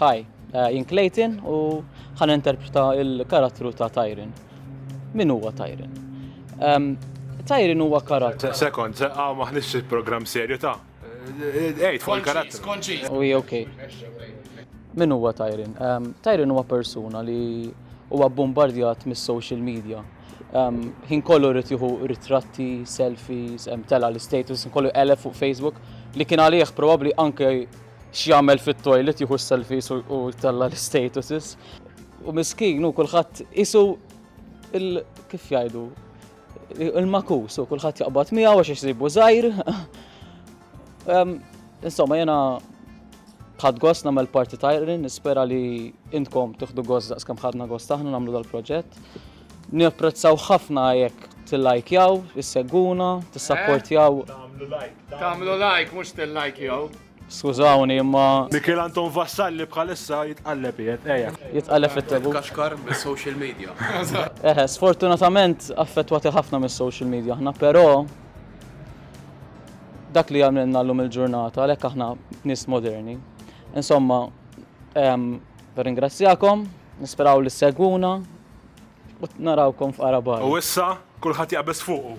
Hi, jien Clayton u ħan interpreta il-karattru ta' Tyron. Min huwa Tyron? Ehm, Tyron huwa karattru. Sekond, għaw maħnix il-program serju ta' Ejt, fuq il-karattru. Konċiż, konċiż. Uj, ok. Min huwa Tyron? Ehm, Tyron huwa persuna li huwa bombardjat mis-social media. Ehm, ħin kollu rrit juhu ritratti, selfies, ehm, tela l-status, kollu elef fuq Facebook li kien għalih probabli anke X'jagħmel fit-toilet jieħu s-selfies u jtella' l-istatuses. U miskin u kulħadd isu kif jgħidu il-makus u kulħadd jaqbad miegħu għax isibu żgħir. Insomma, jena ħad gost namel parti tajrin, nispera li intkom tuħdu gost daqs kam ħadna gost aħna namlu dal-proġett. Niapprezzaw ħafna jekk tillajkjaw, issegwuna, tissapportjaw. Tagħmlu like mhux tillajkjaw. Skużawni imma. Mikiel Anton Vassalli bħalissa jitqalleb qiegħed, eja. Jitqalleb fit-tebut. Kaxkar mis-social media. Eħe, sfortunatament affettwati ħafna mis-social media aħna, però dak li għamilna llum il-ġurnata għalhekk aħna nies moderni. Insomma, nirringrazzjakom, nisperaw li ssegwuna, U narawkom f'qarabar. U issa, kulħadd jaqbeż fuqu.